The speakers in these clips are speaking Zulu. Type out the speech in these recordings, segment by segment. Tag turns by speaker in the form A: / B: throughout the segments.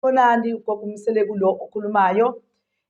A: Khonani ugogo umseleku lo okhulumayo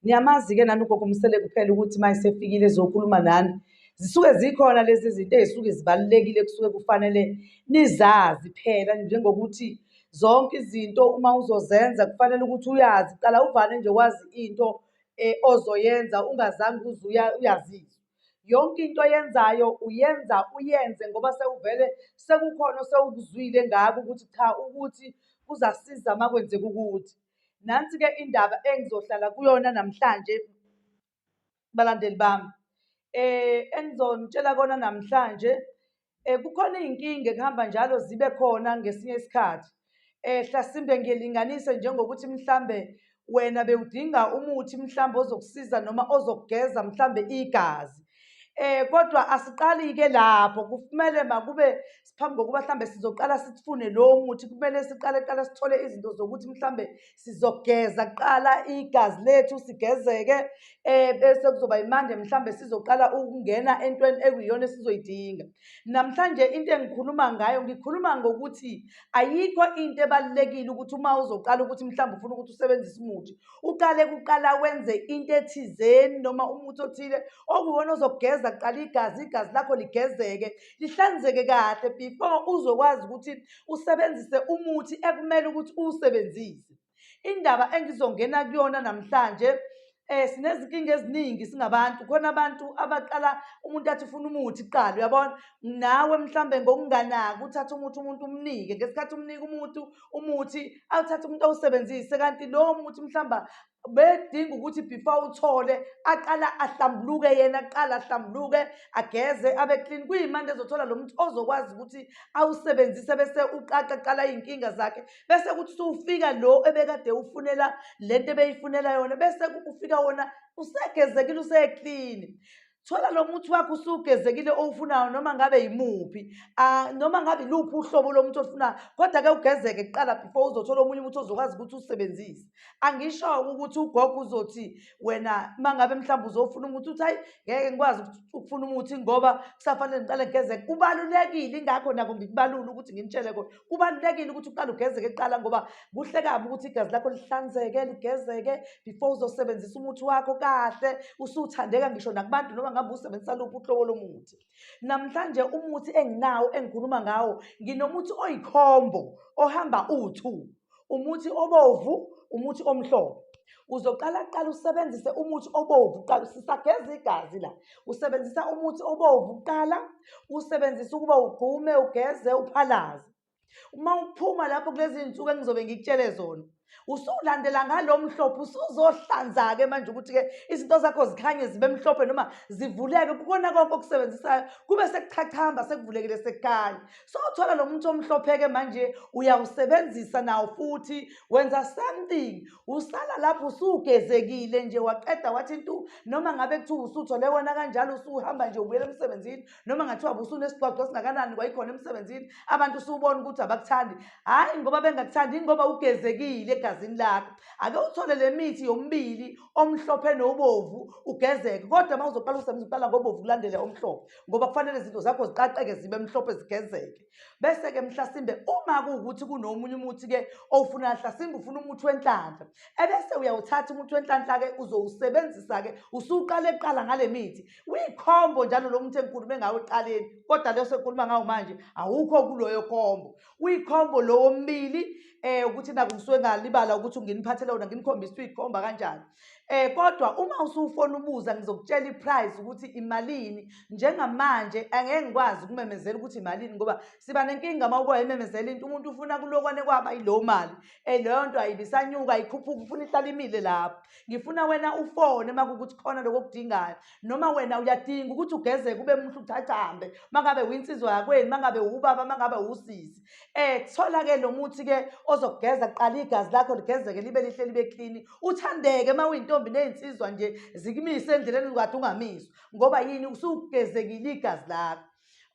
A: niyamazi-ke nani ugogo umseleku phela ukuthi uma esefikile ezokhuluma nani zisuke zikhona lezi zinto ezisuke zibalulekile kusuke kufanele nizazi phela njengokuthi zonke izinto uma uzozenza kufanele ukuthi uyazi qala uvane nje wazi into um ozoyenza ungazange uze uyazizwa Yonke into oyenzayo uyenza uyenze ngoba sewuvele sekukhona osewukuzwile ngako ukuthi cha ukuthi kuzasiza uma kwenzeka ukuthi. Nansi-ke indaba engizohlala kuyona namhlanje balandeli bami. Engizonitshela kona namhlanje Kukhona iy'nkinga ekuhamba njalo zibe khona ngesinye isikhathi hlasimpe ngilinganise njengokuthi mhlambe wena bewudinga umuthi mhlambe ozokusiza noma ozokugeza mhlambe igazi. Kodwa asiqali-ke lapho kumele makube phambi kokuba mhlambe sizoqala sifune lowo muthi kumele siqale kuqala sithole izinto zokuthi mhlambe sizogeza kuqala igazi lethu sigezeke eh bese kuzoba imande mhlambe sizoqala ukungena entweni ekuyona esizoyidinga namhlanje into engikhuluma ngayo ngikhuluma ngokuthi ayikho into ebalekile ukuthi uma uzoqala ukuthi mhlambe ufuna ukuthi usebenzise umuthi uqale kuqala wenze into ethizeni noma umuthi othile okuwona ozogeza kuqala igazi igazi lakho ligezeke lihlanzeke kahle before uzokwazi ukuthi usebenzise umuthi ekumele ukuthi uwusebenzise indaba engizongena kuyona namhlanje eh sinezinkinga eziningi singabantu khona abantu abaqala umuntu athi ufuna umuthi kuqala uyabona nawe mhlambe ngokunganaki uthatha umuthi umuntu umnike ngesikhathi umnika umuntu umuthi awuthatha umuntu awusebenzise kanti lowo muthi mhlamba bedinga ukuthi before uthole aqala ahlambuluke yena aqala ahlambuluke ageze abe clean kuyimanje ezothola lo muntu ozokwazi ukuthi awusebenzise bese uqaqa qala iy'nkinga zakhe bese kuthi usufika lo ebekade ufunela le nto ebeyifunela yona bese ufika wona usegezekile useclean thola lo muthi wakho usugezekile owufunayo noma ngabe yimuphi uh, noma ngabe iluphi uhlobo lomuthi olufunayo kodwa ke ugezeke kuqala before uzothola omunye umuthi ozokwazi ukuthi usebenzise angisho-ke ukuthi ugogo uzothi wena uma ngabe mhlawumbe uzofuna umuthi uthi hayi ngeke ngikwazi ukufuna umuthi ngoba kusafanele ngiqale ngigezeke kubalulekile ingakho nako ngikubalula ukuthi nginitshele kona kubalulekile ukuthi uqale ugezeke kuqala ngoba kuhle kabi ukuthi igazi lakho lihlanzeke ligezeke before uzosebenzisa umuthi wakho kahle usuthandeka ngisho nakubantu noma ngabe usebenzisa luphi uhlobo lomuthi namhlanje umuthi enginawo engikhuluma ngawo nginomuthi oyikhombo ohamba uwu-two umuthi obovu umuthi omhlophe uzoqala kuqala usebenzise umuthi obovu kuqala sisageza igazi la usebenzisa umuthi obovu kuqala usebenzisa ukuba ugqume ugeze uphalaze uma uphuma lapho kulezi nsuku engizobe ngikutshele zona usulandela ngalo mhlophe usuzohlanza-ke manje ukuthi-ke izinto zakho zikhanye zibe mhlophe noma zivuleke kukona konke okusebenzisayo kube sekuchachamba sekuvulekile sekukhanya Sowuthola lo muntu omhlopheke manje uyawusebenzisa nawo futhi wenza something usala lapho usugezekile nje waqeda wathi ntu noma ngabe kuthiwa usuthole wena kanjalo usuhamba nje ubuyela emsebenzini noma ngathiwa busunesigcwagcwa esingakanani kwayikhona emsebenzini abantu usubona ukuthi abakuthandi hhayi ngoba bengakuthandi ingoba ugezekile egazini lakho ake uthole le mithi yomibili omhlophe nobovu ugezeke kodwa uma uzoqala usebenzisa uqala ngobovu kulandele omhlophe ngoba kufanele izinto zakho ziqaqeke zibe mhlophe zigezeke bese-ke mhlasimbe uma kuwukuthi kunomunye umuthi-ke owufunayo mhlasimbe ufuna umuthi wenhlanhla ebese uyawuthatha umuthi wenhlanhla-ke uzowusebenzisa-ke usuqale kuqala ngale mithi uyikhombo njalo lo muthi engikhulume ngawo ekuqaleni kodwa leyo sengikhuluma ngawo manje awukho kuloyo khombo uyikhombo lowo mbili um ukuthi naku ngisuke ngalibala ukuthi nginiphathele wona nginikhombisa ukuthi uyikhomba kanjani Eh kodwa uma usufona ubuza ngizokutshela iprice ukuthi imalini njengamanje angeke ngikwazi ukumemezela ukuthi imalini ngoba siba nenkinga uma uba imemezela into umuntu ufuna kulokwane kwaba yilowo mali eh leyo nto ayibisanyuka ayikhuphuki ufuna ihlala imile lapho ngifuna wena ufone uma kukuthi khona lokho okudingayo noma wena uyadinga ukuthi ugezeke ube muhle uthathambe uma ngabe winsizwa yakwenu uma ngabe wubaba uma ngabe wusisi Eh kuthola ke nomuthi ke ozokugeza kuqala igazi lakho ligezeke libe lihle libe clean. Uthandeke uma uyintombi nezinsizwa nje zikumise endleleni ukade ungamiswa ngoba yini usugezekile igazi lakho.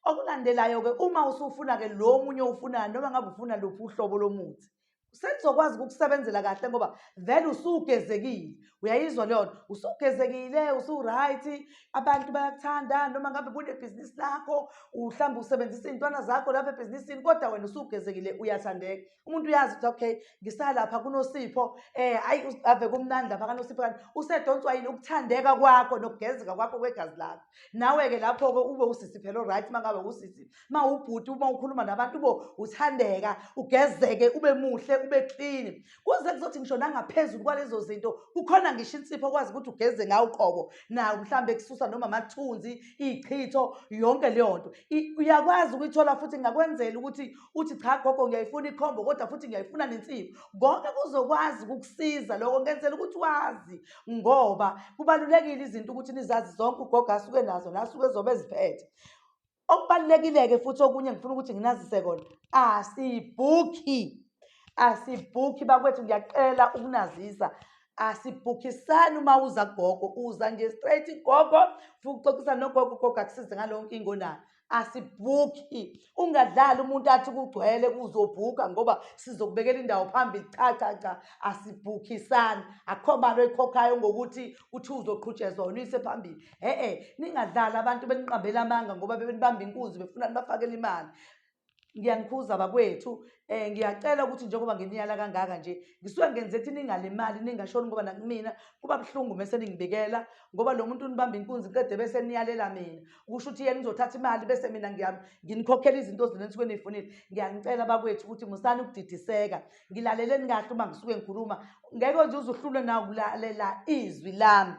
A: Okulandelayo ke uma usufuna ke lo munye ufuna noma ngabe ufuna luphi uhlobo lomuthi sengizokwazi ukukusebenzela kahle ngoba vele usugezekile uyayizwa leyo nto usugezekile usu-right abantu bayakuthanda noma ngabe kunebhizinisi lakho mhlawumbe usebenzisa iy'ntwana zakho lapho ebhizinisini kodwa wena usugezekile uyathandeka umuntu uyazi ukuthi okay ngisalapha kunosipho um ayi ave kumnandi lapha kanosipho kanti usedonswa yini ukuthandeka kwakho nokugezeka kwakho kwegazi lakho nawe-ke lapho-ke ube usisi phela o-right uma ngabe usisi uma ubhuti uma ukhuluma nabantu bo uthandeka ugezeke ube muhle ube clean kuze kuzothi ngisho nangaphezulu kwalezo zinto kukhona ngisho insipho okwazi ukuthi ugeze ngawo uqobo nawo mhlawumbe kususa noma amathunzi iy'chitho yonke leyo nto uyakwazi ukuyithola futhi ngakwenzela ukuthi uthi cha gogo ngiyayifuna ikhombo kodwa futhi ngiyayifuna nensimbi konke kuzokwazi ukukusiza loko ngenzela ukuthi wazi ngoba kubalulekile izinto ukuthi nizazi zonke ugogo asuke nazo nasuke zobe eziphethe Okubalulekile-ke futhi okunye ngifuna ukuthi nginazise kona asibhukhi asibhukhi bakwethu ngiyacela ukunazisa asibhukhisani uma uza gogo uza nje straight gogo futhi uxoxisa nogogo gogo akusize ngaleyo nkinga onayo asibhukhi ungadlali umuntu athi kugcwele kuzobhuka ngoba sizokubekela indawo phambili cha cha cha asibhukhisani akukho mali oyikhokhayo ngokuthi uthi uzoqhutshezwa unise phambili e-e ningadlali abantu beniqambela amanga ngoba bebenibamba inkunzi befuna nibafakele imali ngiyanikhuza bakwethu um ngiyacela ukuthi njengoba nginiyala kangaka nje ngisuke ngenze ukuthi ningalimali ningashoni ngoba nakumina kuba buhlungu mese ningibikela ngoba lo muntu unibamba inkunzi qede bese niyalela mina kusho ukuthi yena nizothatha imali bese mina nginikhokhela izinto zina nisuke niyifunile ngiyanicela bakwethu ukuthi musani ukudidiseka ngilaleleni kahle uma ngisuke ngikhuluma ngeke nje uzuhlulwe nawo kulalela izwi lami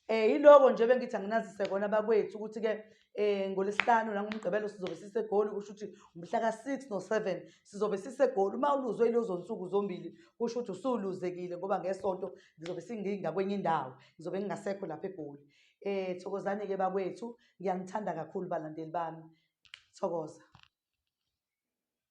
A: Eh yiloko nje bengithi anginazise kona bakwethu ukuthi ke eh ngolesihlanu la ngomgqibelo sizobe sisegoli kusho ukuthi umhla ka6 no7 sizobe sisegoli uma uluzwe ilozo nsuku zombili kusho ukuthi usuluzekile ngoba ngesonto ngizobe singinga kwenye indawo ngizobe ngingasekho lapha egoli eh thokozani ke bakwethu ngiyanithanda kakhulu balandeli bami thokoza